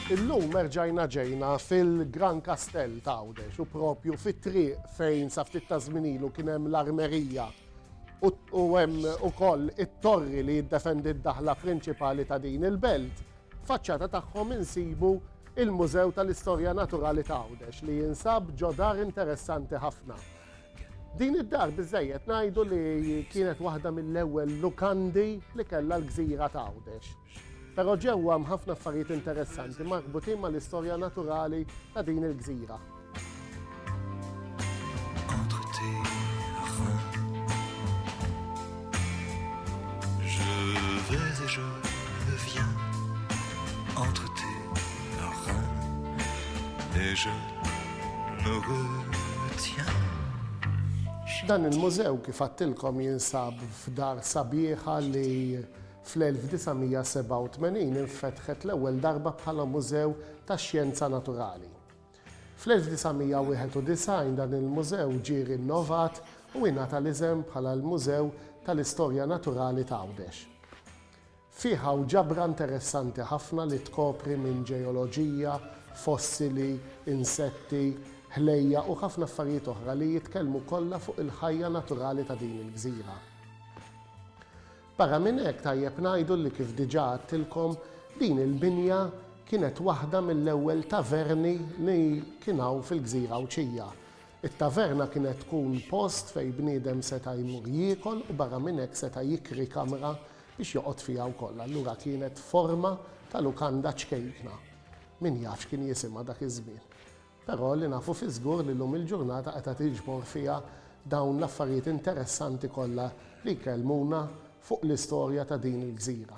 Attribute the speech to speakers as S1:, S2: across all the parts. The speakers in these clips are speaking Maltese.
S1: Illum erġajna ġejna fil-Gran Kastell ta' Għawdex u propju fit-triq fejn sa ftit ta' żminilu kien hemm l-armerija u hemm ukoll it-torri li jiddefendi d-daħla prinċipali ta' din il-belt. Faċċata tagħhom insibu il-Mużew tal-Istorja Naturali ta' Għawdex li jinsab ġodar interessanti ħafna. Din id-dar biżżejjed ngħidu li kienet waħda mill-ewwel lukandi li kellha l-gżira t'Għawdex. Però ġewwa hemm ħafna affarijiet interessanti marbutin mal-istorja naturali ta' din il-gżira. Dan il-mużew kif għattilkom jinsab f'dar sabiħa li fl-1987 infetħet l-ewwel darba bħala mużew tax-xjenza naturali. Fl-1991 dan il-mużew ġie rinnovat u ingħata l-isem bħala l-Mużew tal-Istorja Naturali ta' Għawdex. Fih hawn ġabra interessanti ħafna li tkopri minn ġeoloġija, fossili, insetti, ħlejjaq u ħafna affarijiet oħra li jitkellmu kollha fuq il-ħajja naturali ta' din il-gżira. Barra minn hekk tajjeb ngħidu li kif diġà għadtilkom, din il-binja kienet waħda mill-ewwel taverni li kien hawn fil-gżira Għawdxija. It-taverna kienet tkun post fejn bniedem seta' jmur jiekol u barra minn hekk seta' jikri kamra biex joqgħod fiha wkoll. Allura kienet forma ta' lukanda ċkejkna. Min jaf x'kien jisimha dak iż-żmien. Però li nafu fiż-żgur li llum il-ġurnata qed tiġbor fiha dawn l-affarijiet interessanti kollha li jkellmuna fuq l-istorja ta' din il-gżira.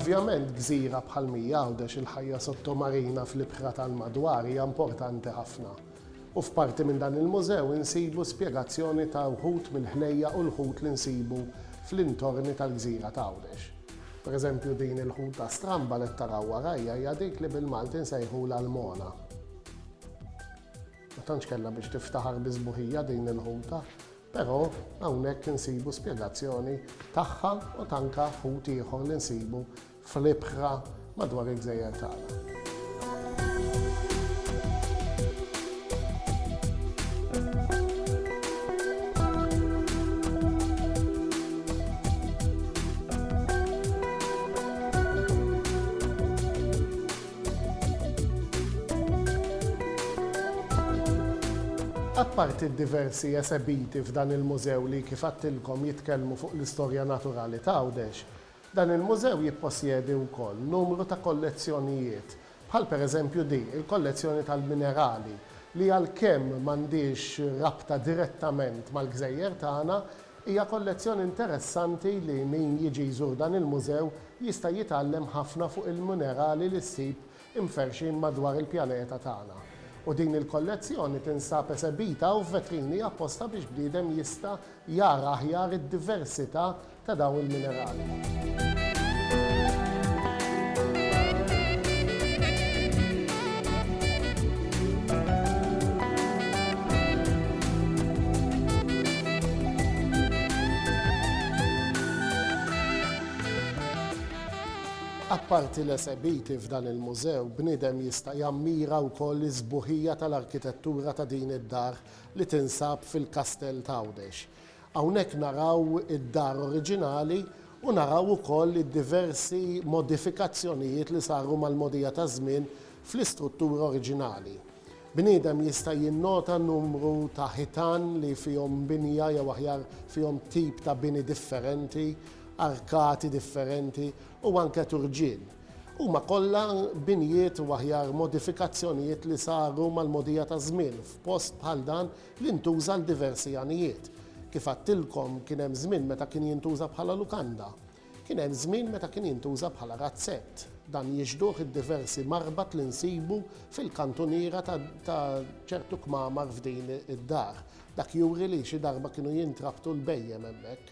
S1: Ovvjament gżira bħal Mija Għawdex il-ħajja sottomarina fl-ibħra tal-madwar hija importanti ħafna. U f'parti minn dan il-mużew insibu spjegazzjoni ta' wħud mill-ħlejjaq u l-ħut li nsibu fl-intorni tal-gżira ta' Għawdex. Pereżempju din il-ħuta stramba li qed taraw warajja hija dik li bil-Malti nsejħulha l-mona. Ma tantx kellha biex tiftaħar bi sbuħija din il-ħuta, però hawnhekk insibu spjegazzjoni tagħha u t'anka ħut ieħor li nsibu fl-ibħra madwar il-gżejjer tagħna. Apparti d-diversi esebiti f'dan il-mużew li kif għedtilkom jitkellmu fuq l-istorja naturali t'Għawdex, Dan il-mużew jipposjedi wkoll numru ta' kollezzjonijiet, bħal pereżempju di, il-kollezzjoni tal-minerali, li għalkemm m'għandhiex rabta direttament mal-gżejjer tagħna, hija kollezzjoni interessanti li min jiġi jżur dan il-mużew jista' jitgħallem ħafna fuq il-munerali li ssib imferrxin madwar il-pjaneta tagħna. U din il-kollezzjoni tinsab esebita u f'vetrini apposta biex bniedem jista' jara aħjar id-diversità ta' dawn il-minerali. Apparti l-esebiti f'dan il-mużew, bniedem jista' jammira wkoll is-sbuħija tal-arkitettura ta' din id-dar li tinsab fil-Kastell t'Għawdex. Hawnhekk naraw id-dar oriġinali u naraw ukoll id-diversi modifikazzjonijiet li saru mal-mogħdija taż-żmien fl-istruttura oriġinali. Bniedem jista' jinnota numru ta' ħitan li fihom binja jew aħjar fihom tip ta' bini differenti, arkati differenti u anke turġien. Huma kollha binjiet u aħjar modifikazzjonijiet li saru mal-mogħdija taż-żmien f'post bħal dan li ntuża għal diversi għanijiet. Kif għadtilkom, kien hemm żmien meta kien jintuża bħala lukanda. Kien hemm żmien meta kien jintuża bħala razzett. Dan jixhduh id-diversi marbat li nsibu fil-kantuniera ta' ċertu kmamar f'din id-dar. Dak juri li xi darba kienu jintrabtu l-bhejjem hemmhekk.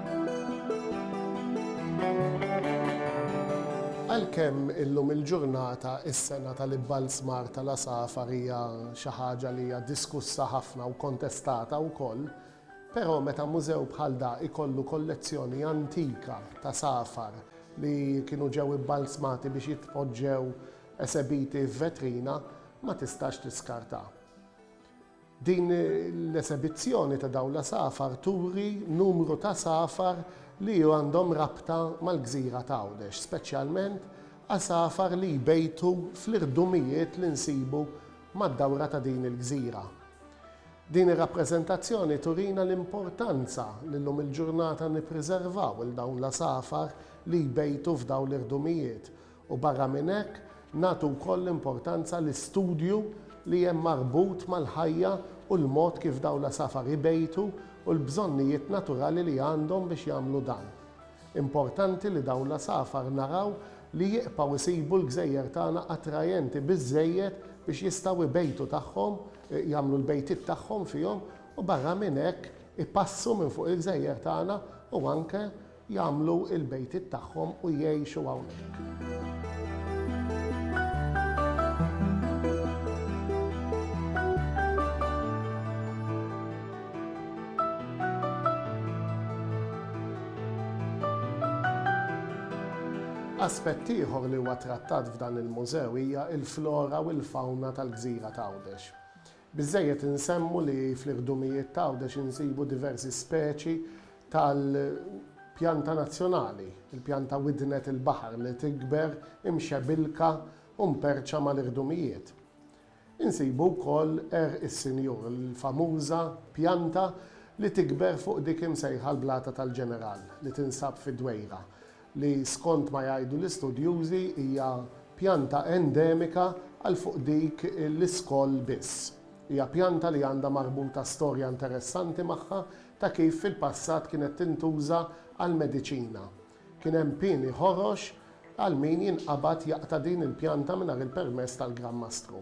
S1: Għalkemm illum il-ġurnata s-sengħa tal-ibbalzmar tal-għasafar hija xi ħaġa li hija diskussa ħafna u kontestata wkoll, però meta mużew bħal da jkollu kollezzjoni antika t'għasafar li kienu ġew ibbalzmati biex jitpoġġew esebiti f'vetrina ma tistax tiskartha. Din l-esebizzjoni ta' dawn l-għasafar turi numru t'għasafar li għandhom rabta mal-gżira t'Għawdex, speċjalment għasafar li jbejtu fl-irdumijiet li nsibu mad-dawra ta' din il-gżira. Din ir-rappreżentazzjoni turina l-importanza li llum il-ġurnata nippriservaw 'l dawn l-għasafar li jbejtu f'dawn l-irdumijiet u barra minn hekk nagħtu wkoll importanza l-istudju li hemm marbut mal-ħajja u l-mod kif dawn l-għasafar ibejtu u l-bżonnijiet naturali li għandhom biex jagħmlu dan. Importanti li dawn l-għasafar naraw li jibqgħu jsibu l-gżejjer tagħna attrajenti biżżejjed biex jistgħu ibejtu tagħhom, jagħmlu l-bejtiet tagħhom fihom u barra minn hekk ipassu minn fuq il-gżejjer tagħna u anke jagħmlu l-bejtiet tagħhom u jgħixu hawnhekk. Aspett ieħor li huwa trattat f'dan il-mużew hija l-flora u l-fawna tal-gżira t'Għawdex. Biżżejjed insemmu li fl-iħdumijiet t'Għawdex insibu diversi speċi tal-pjanta nazzjonali, il-pjanta widnet il-baħar li tikber imxebilka u mperċa mal-iħdumijiet. Insibu wkoll għerq is-Sinjur, il-famuża pjanta li tikber fuq dik imsejħa l-Blata tal-Ġeneral li tinsab fid-Dwejra, li skont ma jgħidu l-istudjużi hija pjanta endemika għal fuq dik l-iskoll biss. Hija pjanta li għandha marbuta storja interessanti magħha ta' kif fil-passat kienet tintuża għall-mediċina. Kien hemm pieni ħorox għal min jinqabad jaqta' din il-pjanta mingħajr il-permess tal-Gran Mastru.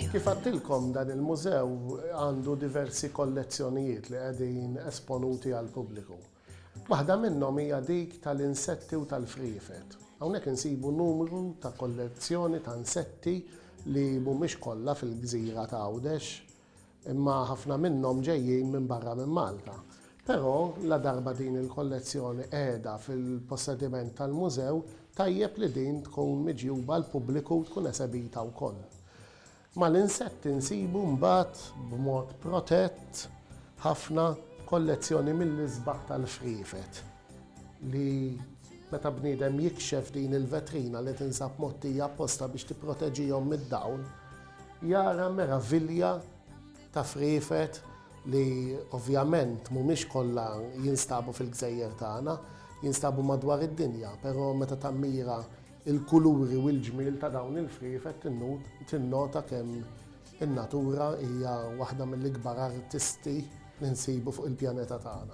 S1: Kif għedtilkom dan il-mużew għandu diversi kollezzjonijiet li qegħdin esponuti għall-pubbliku. Waħda minnhom hija dik tal-insetti u tal-friefet. Hawnhekk insibu numru ta' kollezzjoni ta' insetti li mhumiex kollha fil-gżira ta' Għawdex imma ħafna minnhom ġejjin minn barra minn Malta. Però, ladarba din il-kollezzjoni qiegħda fil-possediment tal-mużew, tajjeb li din tkun miġjuba għall-pubbliku u tkun esebita wkoll. Mal-insetti nsibu mbagħad, b'mod protett ħafna, kollezzjoni mill-isbaħ tal-friefet li, meta bniedem jikxef din il-vetrina li tinsab mgħottija apposta biex tipproteġihom mid-dawl, jara meravilja. ta' friefet li ovvjament mhumiex kollha jinstabu fil-gżejjer tagħna, jinstabu madwar id-dinja, però meta tammira l-kuluri u l-ġmiel ta' dawn il-friefet tinnota kemm in-natura hija waħda mill-ikbar artisti li nsibu fuq il-pjaneta tagħna.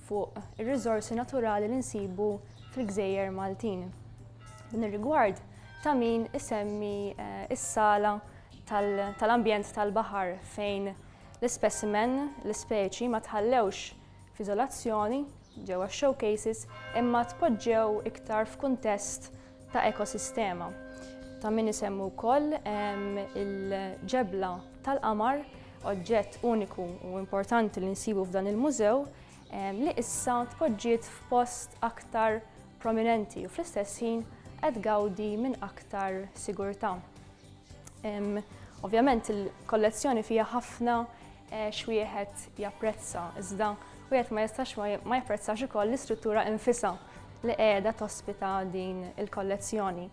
S2: fuq ir-riżorsi naturali li nsibu fil-gżejjer Maltin. Din ir-rigward ta' min isemmi eh, is-sala tal-ambjent tal-baħar fejn l-ispesimen, l-ispeċi ma tħallewx f'izolazzjoni ġewwa showcases imma tpoġġew iktar f'kuntest ta' ekosistema ta' min isemmu wkoll il-ġebla tal-qamar, oġġett uniku u importanti li nsibu f'dan il-mużew, li issa tpoġġiet f'post aktar prominenti u fl-istess ħin qed gawdi minn aktar sigurtà. Ovvjament il-kollezzjoni fiha ħafna Għax wieħed japprezza, iżda wieħed ma jistax ma japprezzax ukoll l-istruttura infisha li qiegħda tospita din il-kollezzjoni.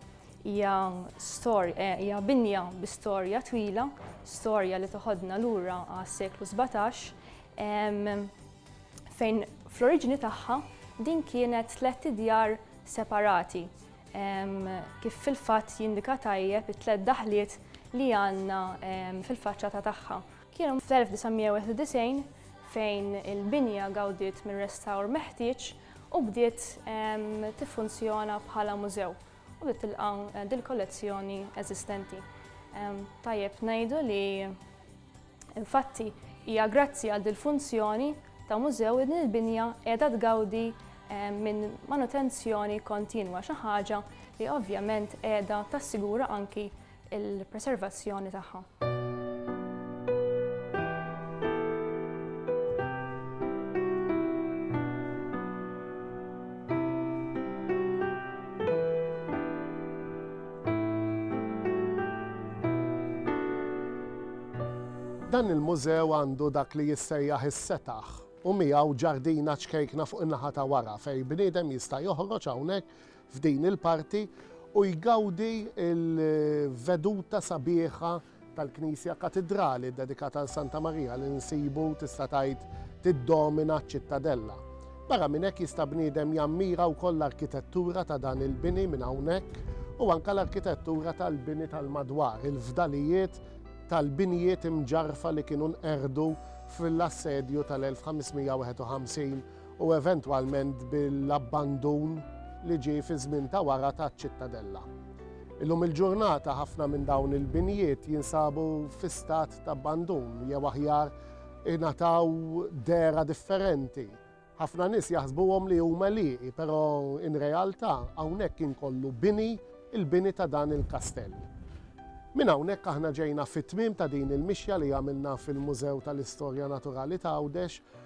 S2: Hija storja, eh, hija binja bi storja twila, storja li toħodna lura għas-seklu 17, fejn fl-oriġini tagħha din kienet tlet idjar separati kif fil-fatt jindika tajjeb it-tlet daħliet li għandna fil-faċċata tagħha. Kien fl-1991 fejn il-binja gawdiet minn restawr meħtieġ u bdiet tiffunzjona bħala mużew u bdiet tilqa' dil-kollezzjoni eżistenti. Tajjeb ngħidu li infatti hija grazzi għal dil-funzjoni ta' mużew din il-binja qiegħda tgawdi minn manutenzjoni kontinwa xi ħaġa li ovvjament qiegħda tassigura anki il-preservazzjoni tagħha.
S1: Dan il-mużew għandu dak li jissejjaħ is-setaħ u miegħu ġardina ċkejkna fuq in-naħa ta' wara fejn bniedem jista' joħroġ hawnhekk f'din il-parti u jgawdi l-veduta sabiħa tal-Knisja Katidrali ddedikata għal Santa Marija li nsibu, tista' tgħid, tiddomina ċ-Ċittadella. Barra minn hekk jista' bniedem jammira wkoll l-arkitettura ta' dan il-bini minn hawnhekk u anke l-arkitettura tal-bini tal-madwar, il-fdalijiet tal-binjiet imġarrfa li kienu nqerdu fl-assedju tal-1551 u eventwalment bil-abbandun li ġie fiż-żmien ta' wara taċ-Ċittadella. Illum il-ġurnata ħafna minn dawn il-binjiet jinsabu fi stat ta' abbandun jew aħjar ingħataw dehra differenti. Ħafna nies jaħsbuhom li huma lieqi, però in realtà hawnhekk inkollu bini, il-bini ta' dan il-kastell. Minn hawnhekk aħna ġejna fit-tmiem ta' din il-mixja li għamilna fil-Mużew tal-Istorja Naturali t'Għawdex